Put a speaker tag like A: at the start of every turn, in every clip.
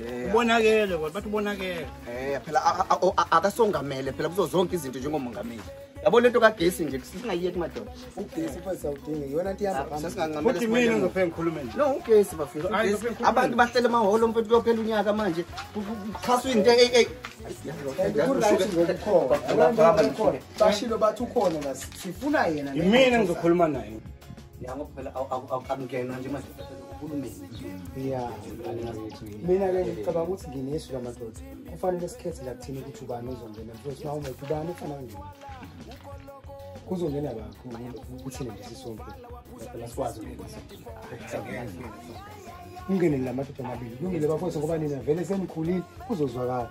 A: Eh, ubonakele kodwa bathi ubonakele
B: eh phela akasongamele phela kuzo zonke izinto njengomongameli yabo lento kagesi nje singayiyeki madoda ugesi phansi
C: awudingi yona nto iyabafuthi mina
B: ngizophela ngikhulume
A: nje no ugesi
B: bafethu abantu bahlele emahholo mfethu kuyophela unyaka manje kuxhaswa into eyi
C: bashilo bathi ukhona sifuna yena imina ngizokhuluma
A: naye
B: yango phela akungenwa nje manje
C: uhulumeni ya mina ke ngicabanga ukuthi nginesu lamadoda kufanele sikhethe la kuthini ukuthi ubani uzongena because uma umuntu ubani ufana nje kuzongena bakho kuthini nje sisonke phela sikwazi ukungena ungene la madoda amabili kulungile bafowethu ngoba nina vele senikhulile kuzozwakala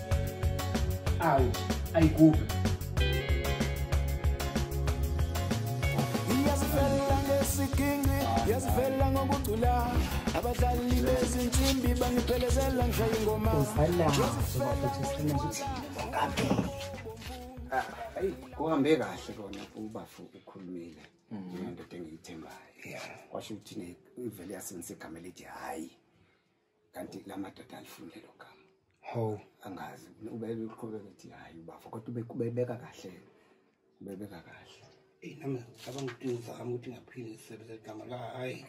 D: awu ayigubhe
E: yazivela ngesiginci yazivela ngokucula abadlali bezinsimbi bangiphelezela ngishaya ingoma ayi
B: kuhambe kahle kona ubafu ukhulumile mm. ngendoda engiyithembayo kwasho ukuthi ivele yasebenza igama elithi hhayi kanti la madoda alifuni lelo gama ho angazi ubeke uqhubeka ukuthi hayi ubafo kodwa ubeke ubebeka kahle ubebeka kahle eyi nami ngicabanga
A: ukuthi ngizama ukuthi ngaphinde ngisebenzise igama la hhayi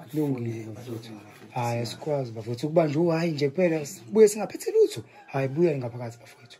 A: kulungile
C: bafowethu hhayi asikwazi bafowethu ukuba nje uhayi nje kuphela buye singaphetheli utho hhayi buya ngaphakathi bafowethu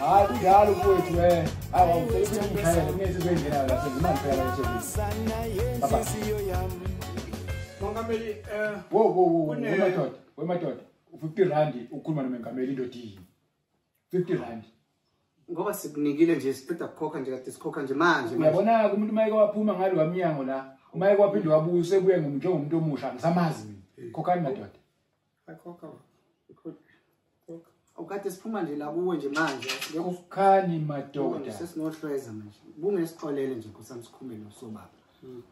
D: hayi kunjalo kuwethu we
A: awusebenziaaaengimangiphelaeeaaa
D: ngoba
B: sikunikile nje siqeda kukhokha nje kade sikhokha nje manje uyabona-ke umuntu uma eke
D: waphuma ngalo wamnyango la uma eke waphinde wabuya usebuye njengomuntu omusha ngisamazi mina khokhani madoda Akhokha
B: baba. Ikhona. Khokha. Awukade siphuma nje la kuwe nje manje. Kukhani
D: madoda. Sesinohlweza manje.
B: Bungesixolele nje nkosami sikhumele usobaba. Hmm.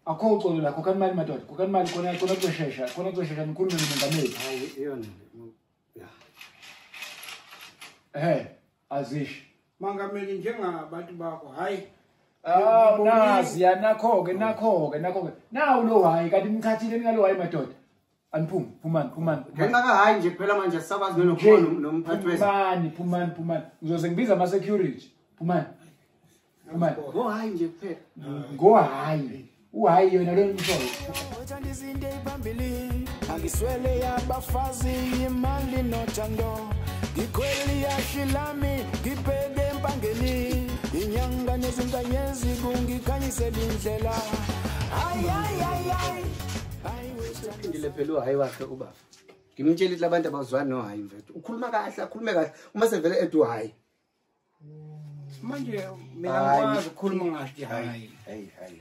B: Akho
D: uxolo la khokha imali madoda. Khokha imali khona khona kushesha. Khona kushesha nikhulume nomengameli. Hayi iyona. Yeah. Eh, azish. Mangameli
A: njengabantu bakho. Hayi. Ah,
D: nazi ya nakho ke nakho ke nakho ke. Nawu lo hayi kanti ngikhathile ngalo hayi madoda. Aniphume, phumani, phumani. Ngenxa ka hayi nje
B: phela manje sisakwazi nokukhona nomphathi wethu. Phumani, phumani, phumani.
D: Ngizoze ngibiza ama security. Phumani. Phumani.
B: Go hayi nje kuphela. Go hayi.
D: Uhayi yona lo mfowethu. Uthanda izinto
E: eziphambili. Angiswele yabafazi imali nothando. Ngikhweli yashi lami ngibheke empangeni. Inyanga nezinkanyezi kungikhanyisela indlela. Ay ay ay ay.
B: uphindile phela uhayi wakhe ubaba ngimtshela ukuthi labantu abazwani nohayi mfethu ukhuluma kahle akhulume kahle uma sevele ethi uhayi manje
A: mina ngikwazi ukukhuluma ngathi hayi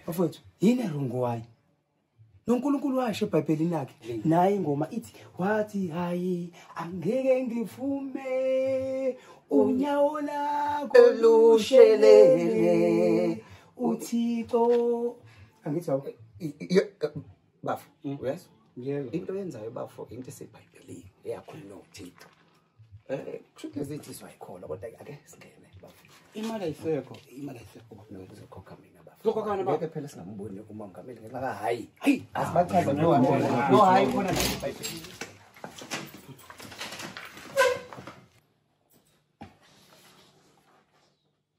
A: bafowethu yini
C: erongo
A: wayo
C: nonkulunkulu washo ebhayibhelini lakhe naye ingoma ithi wathi hayi angeke ngivume unyawo lakho lushelele uthixo angithi awu
B: bafo mm. uyezwa yebo into yenzayo
C: bafo
B: into esebhayibhelini eyakhuluma uthixo um eh, kusho ukuthi lezi thizwa yikhona kodwa ake singene bafo imali ayisekho
A: imali ayisekho nokuzokhokha
B: mina Lokokana ba. Ngeke phela
A: singamboni
B: uMongameli ngenxa ka hayi. Hayi, asibachaza no
C: hayi. No hayi khona nje iBhayibheli.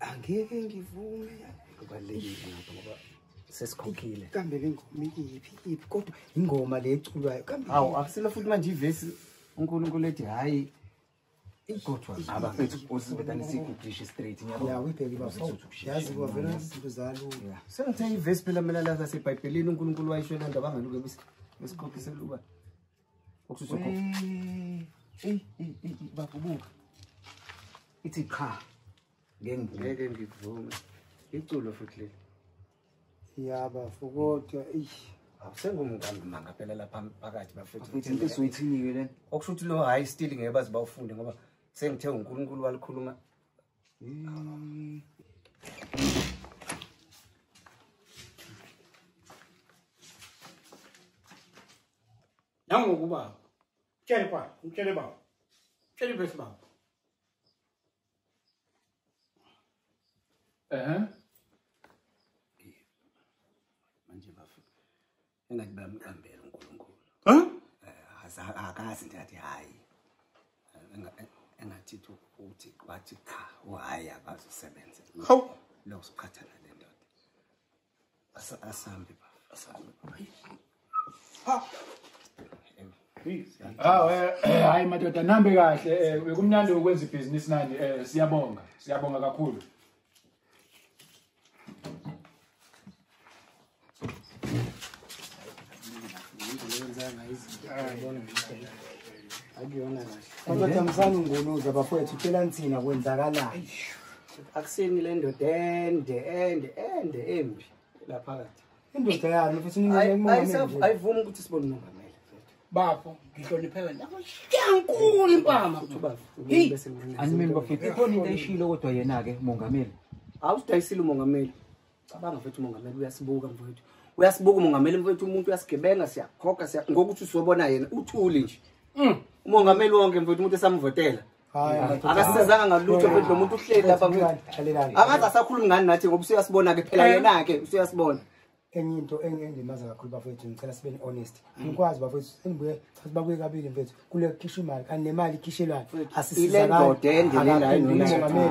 C: angeke ngivume kubalulekile
B: ngapha ngoba sesikhokhile kambe le ngoma
C: iyiphi iphi kodwa ingoma le eculwayo kambe hawu akusilo futhi manje
B: ivesi unkulunkulu ethi hhayi igothwa abafethu usibetanisa igudishe straight ngiyayazi
C: kwavela izinto zalo sengithe ivesi
B: phela mina lasasebhayibhelini unkulunkulu wayisho lento abangaluke besiqophiseluba Ukususa ukhofu. Hey, hey, hey, hey, bakubuka. Ithi qha. Ngeke ngivume. Ngeke ngivume. Iculo futhi leli. Yaba
C: fukodwa eish. Awusengumngamba
B: manga phela lapha phakathi bafethu. Bafethu into soyithiniwe
F: lena. Okusho ukuthi lo high still
B: ngeke bazi bawufunde ngoba sengithe uNkulunkulu walikhuluma. Mm.
A: nangoku baba mtshele baba mtshele baba mtshele ivesi baba
B: ehe manje bafo engathi bamqambela uNkulunkulu ha eh, akazi nje athi hayi engathi uthi wathi cha uhayi akazi usebenze hawu
A: lokusikhathala
B: asambe
D: asambe ha Ah eh, eh hayi madoda nambe kahle eh, bekumnandi ukwenza ibhizinisi nani eh, siyabonga siyabonga kakhulu
C: akuyona kahle kodwa thamsani ngonuza bafowethu tshela nithina kwenzakalani akusini
B: le ndoda ende ende ende embi la phakathi indoda yani futhi
C: ayivumi ukuthi sibone
B: umongameli bafo
A: ngihloniphe wena yankulu impama
F: animini bafethu ikhona into eshilo kodwa yena-ke mongameli awudayisile
B: umongameli cabanga mfethu umongameli uyasibuka mfethu uyasibuka umongameli mfethu umuntu uyasigebenga siyakhokha siya ngokuthi usibona yena uthuli nje mm. umongameli wonke mfethu umuntu esamvotela akasizanga ngalutho mfethu lomuntu uhleli lapha mfethu akaze asakhulumi ngani nathi ngoba usuyasibona ke phela eh. yena ke usuyasibona enye into
C: engimaza kakhulu bafowethu ngicela sibe ne-honest angikwazi bafowethu engibuye chathi bakuye kabili mfethu kule kukhisha imali kanti nemali ikhishelwayo
B: asisizakalmongameli